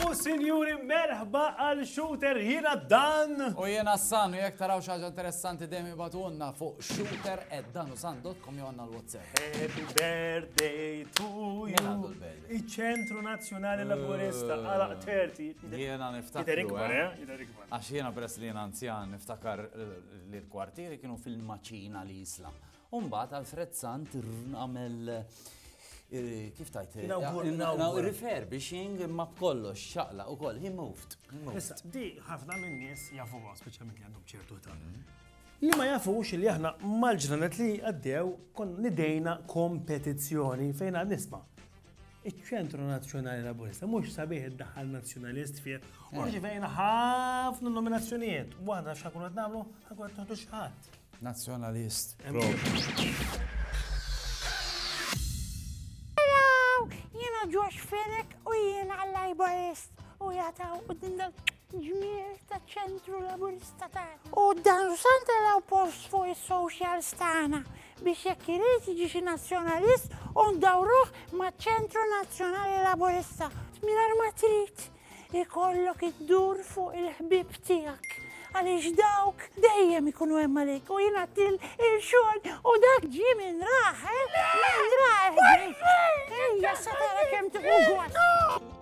U sinjuri merħba għal shooter jiena dan. U jiena s-san, jek taraw xaġa interessanti demi batunna fuq shooter at danusan.com jonna l-WhatsApp. Happy birthday to you. Iċ-Ċentru Nazzjonali Laburista eh, għalaq terti. Jiena niftakar. Eh? Eh? Għax jiena peress li jiena anzjan niftakar li l-kwartieri kienu fil-maċina li jisla. Umbat Alfred Sant għamel kif tajt, refurbishing ma b'kollox xaqla u koll, he moved. Issa, di ħafna minn nies jafu għas, speċjalment li għandhom ċertu ta' mhm. Li ma jafux li aħna mal-ġranet li għaddew konna nidejna kompetizzjoni fejn għad nisma' iċ-Ċentru Nazzjonali Laburista mhux sabiħ id-daħħal Nazzjonalist fih u rċivejna ħafna nominazzjonijiet. Waħda x'ħakun qed nagħmlu ħakun qed noħdu x'ħadd. Nazzjonalist. Jiena Josh Fenek u jiena l-Laborist u jataw u dindal Ġmiel taċ-Ċentru Laburista tagħna. U dan san taraw post fuq is-socials tagħna biex jekk irid jiġi xi nazzjonalist u ndawruh maċ-Ċentru Nazzjonali Laburista. Mingħajr ma trid ikollok iddur fuq il-ħbieb tiegħek għaliex dawk dejjem ikunu hemm għalik u jiena til il-xogħol u dak ġie minn raħ, eh? minn raħ. Ejja, sa tara kemm tieħu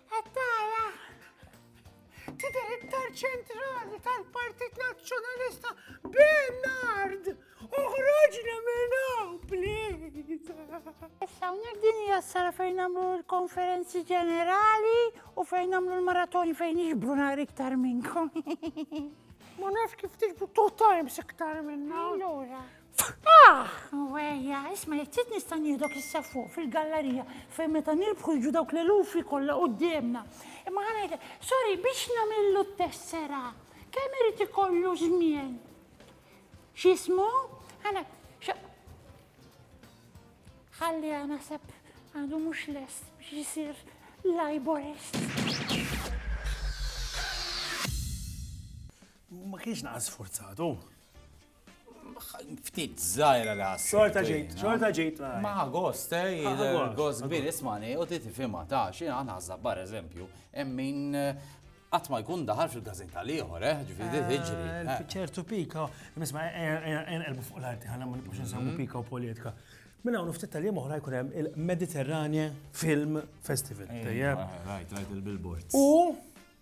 Għattara! Tidher iktar ċentrali tal-Partit Nazzjonalista Bernard! Uħroġna minn hawn, please! Issa hawnhekk din hija s-sala fejn nagħmlu l-konferenzi ġenerali u fejn nagħmlu l-maratoni fejn nixbru nhar iktar minnkom. Ma nafx kif tiġbu two times iktar minna. Allura. Ah! Wejja, isma' jekk trid nista' nieħdok issa fuq fil-gallerija fejn meta nirbħu jiġu dawk l-elufi kollha quddiemna. Imma ħa ngħidlek, sorry, biex nagħmillu t-tessera, kemm irid ikollu żmien? X'ismu? Għana, ħalli għana sepp għadu mux lest biex jisir laborist. Ma kienx naqas sforzatu. Ftit zaħira li għas. Xorta ġejt, xorta ġejt. Ma għost, eh, għost kbir, ismani, u ti tifima ta' xie għan għazza bar eżempju, emmin għat ma jkun daħal fil-gazetta liħor, eh, ġifiri eh, tiġri. Eh. ċertu pika, nisma, erbu fuq l-arti, għanna ma nibqax nsemmu mhm. pika u polietka. Minna għunu ftit tal-jiem uħra jkun hemm il-Mediterranja Film Festival. Tajjeb. Rajt, rajt il-billboards. U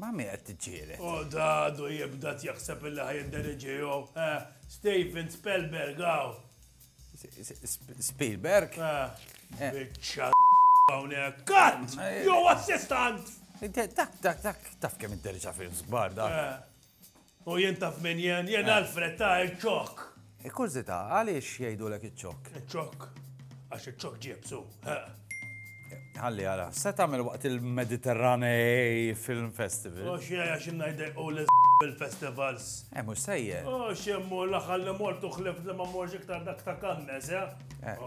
Ma' min qed tiġġieled? O da għadu jibda tjaħseb illi ħa jindiriġiehu, eh? Steven Spellberg hawn! Spielberg? Eh, biċċa hawnhekk. Cut! Jew assistant! Dak, dak, dak, taf kemm inti riċa films kbar dak. Eh. U jien taf min jien? Jien Alfred ta' iċ-ċokk! Kkurzità, għaliex jgħidulek iċ-ċokk? Iċ-ċokk? Għax iċ-ċokk ġiebsu, heq! Ħalli ara, x'se tagħmel waqt il-Mediterranei Film Festival? U x'jgħi għax inna jdejqu lil bil-festivals? Eh, mhux sejjer! U x'immur l-aħħar li mort u ħlift li ma mmorx iktar dak ta' Cannes, eh?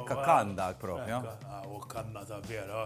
Ka Cannes dak propju! Ekk, hawn Cannes ta' vera!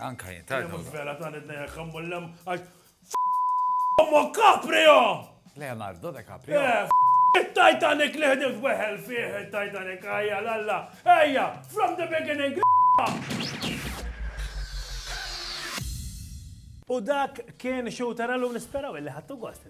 Anka jien, tajna. Mux vera ta' nidna jek għammullem, għax f***ommu Caprio! Leonardo de Caprio? Eh, il-Titanic li ħdimt weħel fih il-Titanic, għajja l-alla, għajja, from the beginning, U dak kien xu tarallu nisperaw illi ħattu gost.